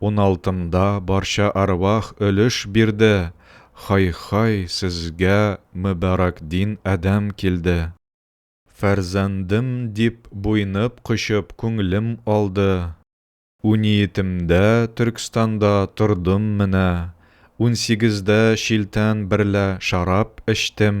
Уналтымда барча әрвах өлеш бирде, Хай-хай, сезгә мөбарәк дин адәм килде. Фәрзәндем дип буйнып-кочып күңлем алды. Униетемдә Төркстанда тордым менә, Унсигездә шилтән берлә шарап эчтем.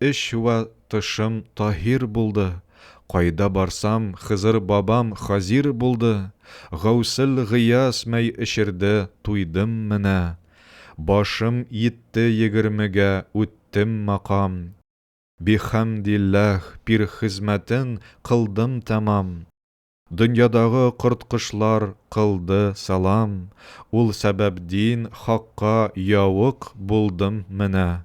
Эч вә тышым таһир булды, Кайда барсам, Хызыр бабам хазир булды, Гәүсел Гыяз мәй эчерде, туйдым менә. Башым йитте егермегә, үттем макам. Бихәмдилләһ, пир хезмәтен кылдым тәмам. Дөньядагы корт-кошлар кылды сәлам, Ул сәбәп дин, хакка яуык булдым менә.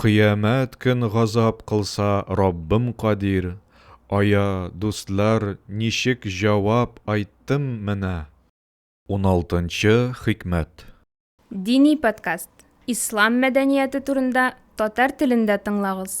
Кыямәт көн газап кылса Раббым кадир, ая, дуслар, ничек җавап айттым менә. Уналтынчы хикмәт. Дини подкаст. Ислам мәдәнияте турында татар телендә тыңлагыз.